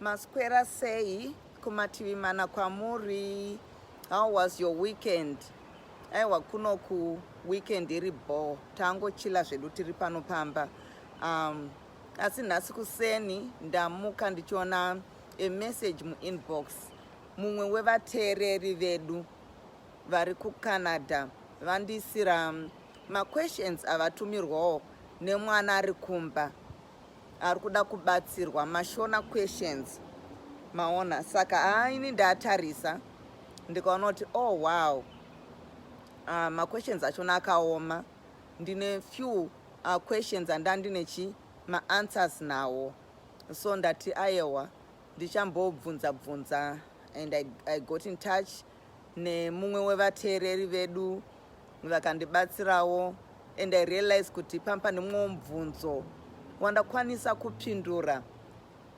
maswera sei kumativi mana kwamuri how was your weekend aiwa kuno ku weekend iri bho tangochila zvedu tiri pano pamba um, asi nhasi kuseni ndamuka ndichiona emessage muinbox mumwe wevateereri vedu vari kucanada vandiisira mm, maquestions avatumirwawo nemwana ari kumba ari kuda kubatsirwa mashona questions maona saka haa ini ndatarisa ndikaona kuti oh wow uh, maquestions achona akaoma ndine few uh, questions andandine chi maanswers nawo so ndati ayewa ndichambobvunza bvunza and I, i got in touch nemumwe wevateereri vedu vakandibatsirawo and i realize kuti pampa nemumwe mubvunzo wandakwanisa kupindura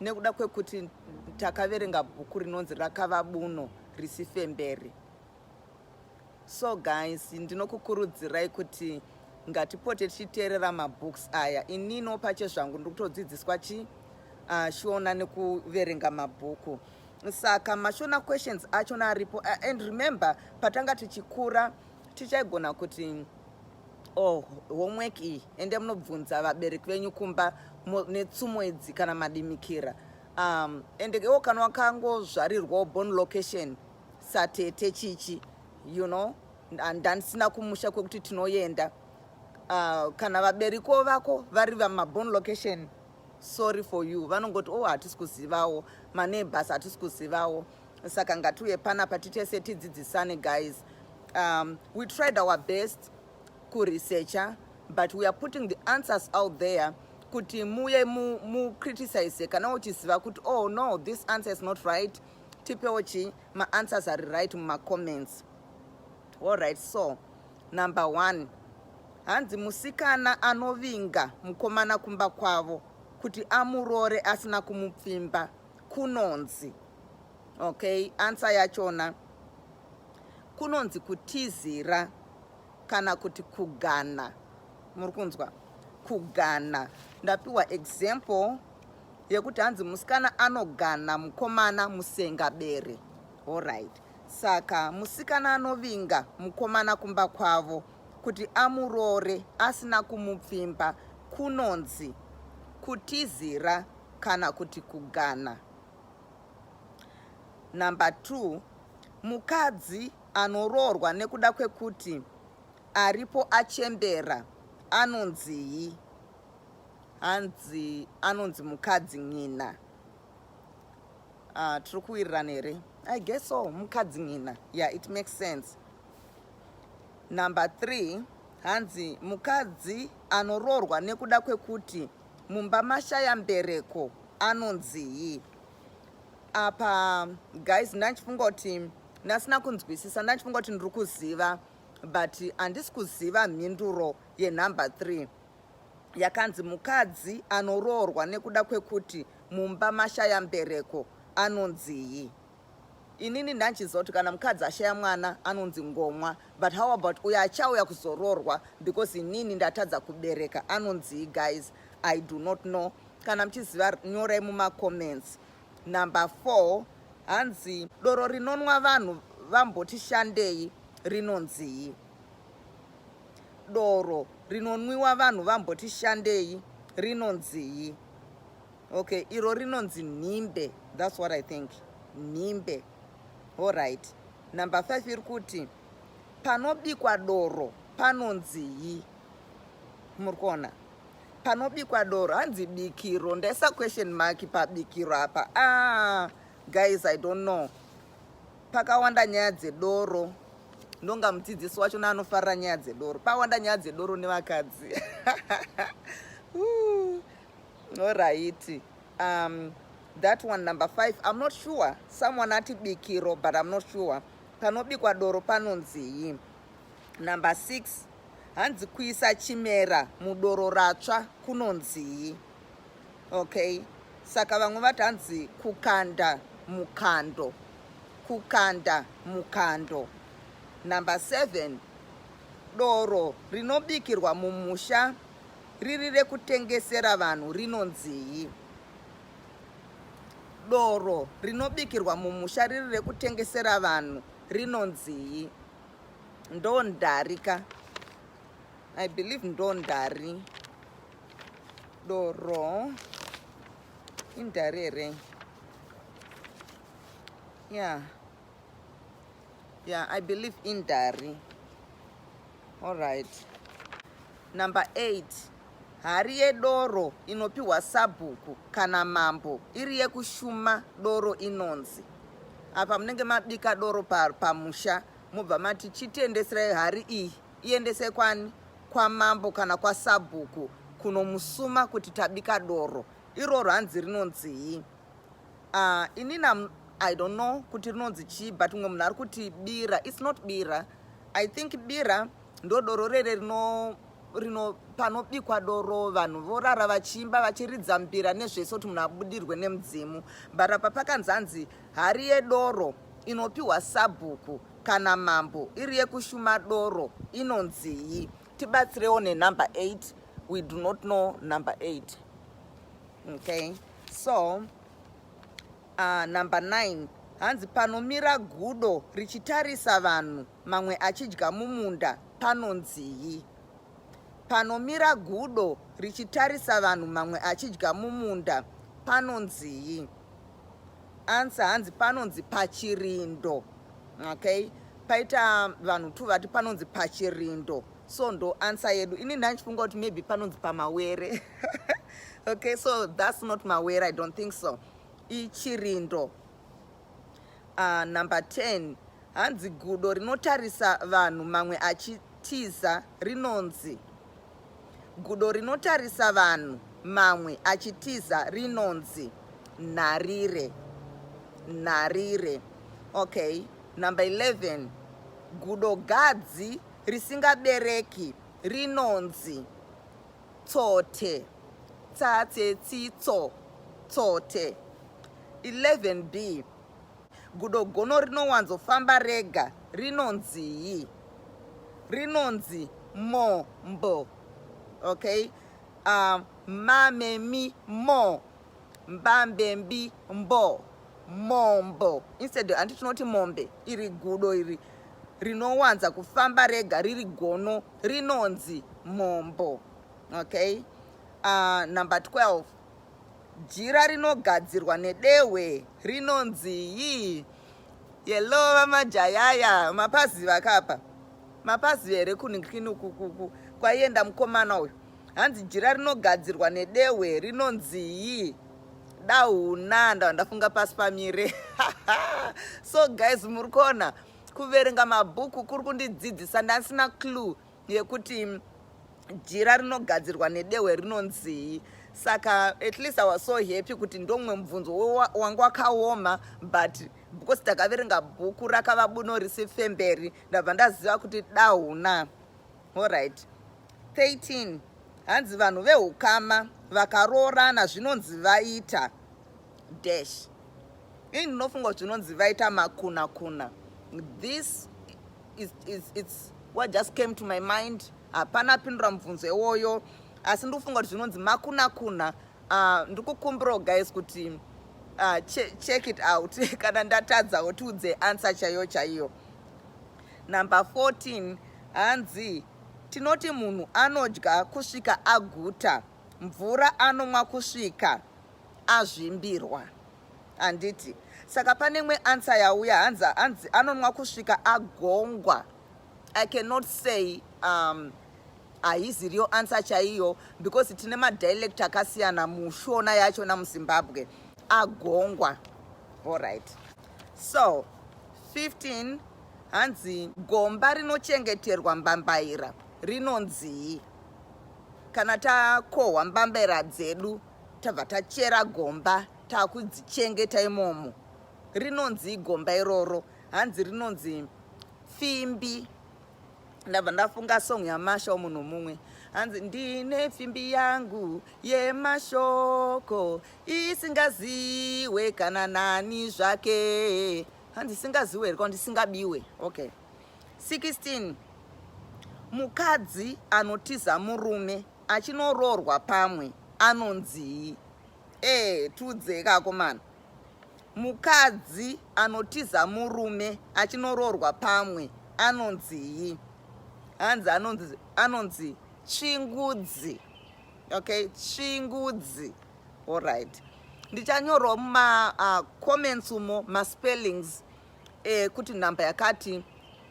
nekuda kwekuti takaverenga bhuku rinonzi rakava buno risifemberi so guys ndinokukurudzirai kuti ngatipote tichiteerera mabooks aya inino pache zvangu ndiri kutodzidziswa chi uh, ah, shiona nekuverenga mabhuku saka mashona questions achona aripo and remember patanga tichikura tichaigona kuti oh homework iyi ende munobvunza vabereki venyu kumba netsumo idzi kana madimikira um, ende iwo kana wakangozvarirwawo born location satete chichi you know ndandisina kumusha kwekuti tinoyenda uh, kana vaberiko vako vari vamabon location sorry for you vanongoti oh hatisi kuzivawo maneighbors hatisi kuzivawo saka ngatiuye panapa titese tidzidzisane guys um, we tried our best kuresearcha but we are putting the answers out there kuti muye mucriticize mu kana uchiziva kuti oh no this answer is not right tipewo chi maanswers ari right mumacomments Alright, so number one hanzi musikana anovinga mukomana kumba kwavo kuti amurore asina kumupfimba kunonzi okay ansa yachona kunonzi kutizira kana kuti kugana muri kunzwa kugana ndapiwa example yekuti hanzi musikana anogana mukomana musengabere allright Saka musikana anovinga mukomana kumba kwavo kuti amuroore asina kumupfimba kunonzi kutizira kana kuti kugana. Number 2 mukadzi anoroorwa nekuda kwekuti aripo achembera anonzii? Hanzi anonzi mukadzi n'ina. uh, tiri kuwirirana here i guess so mukadzi nina yeah it makes sense number three hanzi mukadzi anoroorwa nekuda kwekuti mumba mashaya mbereko anonzii apa guys ndandichifunga kuti ndasina kunzwisisa ndandichifunga kuti ndiri kuziva but handisi kuziva mhinduro yenumber three yakanzi mukadzi anoroorwa nekuda kwekuti mumba mashaya mbereko anonzii inini ndanchiziva kuti kana mukadzi ashaya mwana anonzi ngomwa but how about uyo achauya kuzoroorwa because inini ndatadza kubereka anonzii guys i do not know kana muchiziva nyorai mumacomments number four hanzi doro rinonwa vanhu vamboti shandei rinonzii doro rinonwiwa vanhu vamboti shandei rinonzii okay iro rinonzi nhimbe thats what i think nhimbe allright number five iri kuti panobikwa doro panonzii muri kuona panobikwa doro hanzi bikiro ndaisa question mark pabikiro apa ah, guys i don't know Pakawanda nyaya dzedoro ndonga mudzidzisi wacho naanofarira nyaya dzedoro pawanda nyaya dzedoro nevakadzi oraiti um, that one number five i'm not sure someone ati bikiro but i'm not sure panobikwa doro panonzii number six hanzi kuisa chimera mudoro ratsva kunonzii okay saka vamwe vati hanzi kukanda mukando kukanda mukando number seven doro rinobikirwa mumusha riri rekutengesera vanhu rinonzii doro rinobikirwa mumusha riri rekutengesera vanhu rinonzii ndondarika i believe ndondari doro indari here yeah yeah i believe indari all right number eight hari yedoro inopiwa sabhuku kana mambo iri yekushuma doro inonzi apa munenge mabika doro pamusha pa mubva mati chitendeserai hari iyi Iendese kwani? Kwamambo kana kwasabhuku kunomusuma kuti tabika doro iroro hanzi rinonzii? Uh, inini I don't know kuti rinonzi chii but mumwe munhu ari kuti bira. It's not bira. I think bira ndodoro rere rino rino panobikwa doro vanhu vorara vachiimba vachiridza mbira nezvese kuti munhu abudirwe nemudzimu but apa pakanzi hanzi hari yedoro inopiwa sabhuku kana mambo iri yekushuma doro inonzii tibatsirewo nenumber 8 we do not know number 8 okay so uh, number 9 hanzi panomira gudo richitarisa vanhu mamwe achidya mumunda panonzii panomira gudo richitarisa vanhu mamwe achidya mumunda panonzii Answer hanzi panonzi pachirindo. Okay? Paita vanhu two vati panonzi pachirindo. So ndo answer yedu. Ini ndanchifunga kuti maybe panonzi pamawere. okay, so that's not mawere, I don't think so. Ichirindo. Uh, number 10 hanzi gudo rinotarisa vanhu mamwe achitiza rinonzi Gudo rinotarisa vanhu mamwe achitiza rinonzi nharire. Nharire. Okay. Number 11. Gudo gadzi risingabereki rinonzi tsote. Tsatse tsitso. Tsote. 11b. Gudo gono rinowanzofamba rega rinonzii? Rinonzi mombo. Okay? Um, mamemi mo mbambembi mbo mombo instead andi tinoti mombe iri gudo iri rinowanza kufamba rega riri gono rinonzi mombo okay uh, number 12 Jira rinogadzirwa nedehwe rinonzi yii? Hello vamajayaya, mapaziva akapa mapaziva here kunikini ukukuku kwaienda mukomana uyu? Hanzi jira rinogadzirwa nedehwe rinonzi yii? Dahuna ndava ndafunga pasi pamire so guys muri kuona kuverenga mabhuku kuri kundidzidzisa ndasina clue yekuti jira rinogadzirwa nedehwe rinonzii saka at least i was so happy kuti ndomumwe mubvunzo wanga wakaoma but because takaverenga bhuku rakava buno risi femberi ndabva ndaziva kuti dahuna allright 13 hanzi vanhu veukama vakaroorana zvinonzi vaita dash ini ndinofunga kuti zvinonzi vaita makuna kuna this It's, it's, it's what just came to my mind hapana uh, apindura mubvunzo iwoyo asi ndikufunga kuti zvinonzi makunakuna uh, ndikukumbirawo guys kuti uh, che, check it out kana ndatadzawo tiudze answer chaiyo chaiyo number 14 hanzi tinoti munhu anodya kusvika aguta mvura anomwa kusvika azvimbirwa handiti saka pane mwe answer yauya hanzi hanzi anonwa kusvika agongwa i cannot say um, haisi real answer chaiyo because tine madialect akasiyana mushona yacho namuzimbabwe agongwa allright so 15 hanzi gomba rinochengeterwa mbambaira rinonzii kana takohwa mbambaira dzedu tabva tachera gomba takudzichengeta imomo rinonzi igomba iroro hanzi rinonzi fimbi ndabva ndafunga song yamasha munhu mumwe hanzi ndine pfimbi yangu yemashoko isingaziwe kana nani zvake hanzi isingaziwe here kaundi isingabiwe okay 16 mukadzi anotiza murume Achinoroorwa pamwe anonzii ee eh, tudzeka akomana mukadzi anotiza murume achinoroorwa pamwe anonzii hanzi anonzi anonzi tsvingudzi okay tsvingudzi allright ndichanyorwa mumacomments uh, umo maspellings eh, kuti nhamba yakati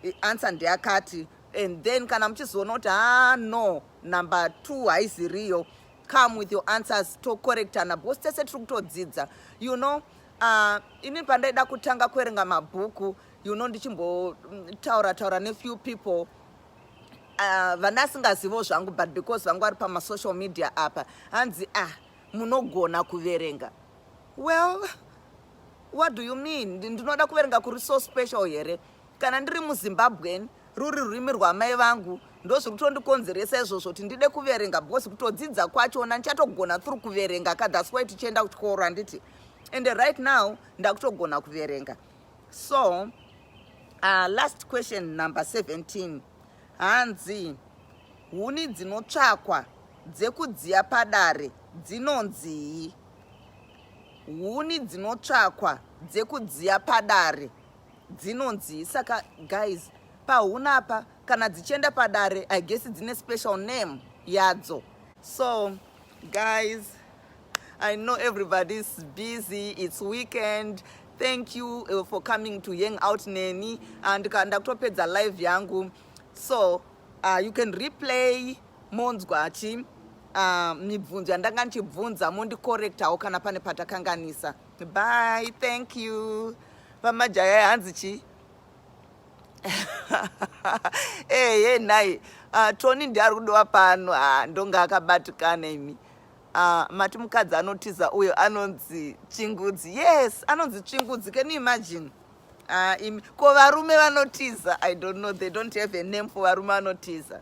eh, answer ndeyakati and then kana muchizoona kuti haa ah, no number two haizi riyo come with your answers tocorrectana because tese tiri kutodzidza you know uh, ini pandaida kutanga kuerenga mabhuku you know ndichimbotaura mm, taura nefew people uh, vana asingazivo zvangu but because vangu vari pamasocial media apa hanzi ah munogona kuverenga well what do you mean ndinoda kuverenga kuri so special here kana ndiri muzimbabwen ruri rurimi rwamai vangu ndozviri kutondikonzeresa izvozvo kuti ndide kuverenga because kutodzidza kwachona ndichatogona thru kuverenga ka thats why tichienda kuchikoro handiti and right now ndakutogona kuverenga so uh, last question number 17 hanzi huni dzinotsvakwa dzekudziya padare dzinonzii huni dzinotsvakwa dzekudziya padare dzinonzi saka guys pahunapa kana dzichienda padare i guess dzine special name yadzo so guys i know everybody is busy it's weekend thank you uh, for coming to hang out neni and uh, ndakutopedza live yangu so uh, you can replay monzwa chi uh, mibvunzo yandanga ndichibvunza mondicorrectawo kana pane patakanganisa Bye, thank you. Vamajaya hanzi chi? hey, hey, nai. Uh, Tony ndiye ari kudiwa pano. Ah, ndonga akabatikana imi. Uh, mati mukadzi anotiza uyo anonzi chingudzi. Yes, anonzi chingudzi. Can you imagine? Uh, imi. Ko varume vanotiza. I don't know. They don't have a name for varume vanotiza.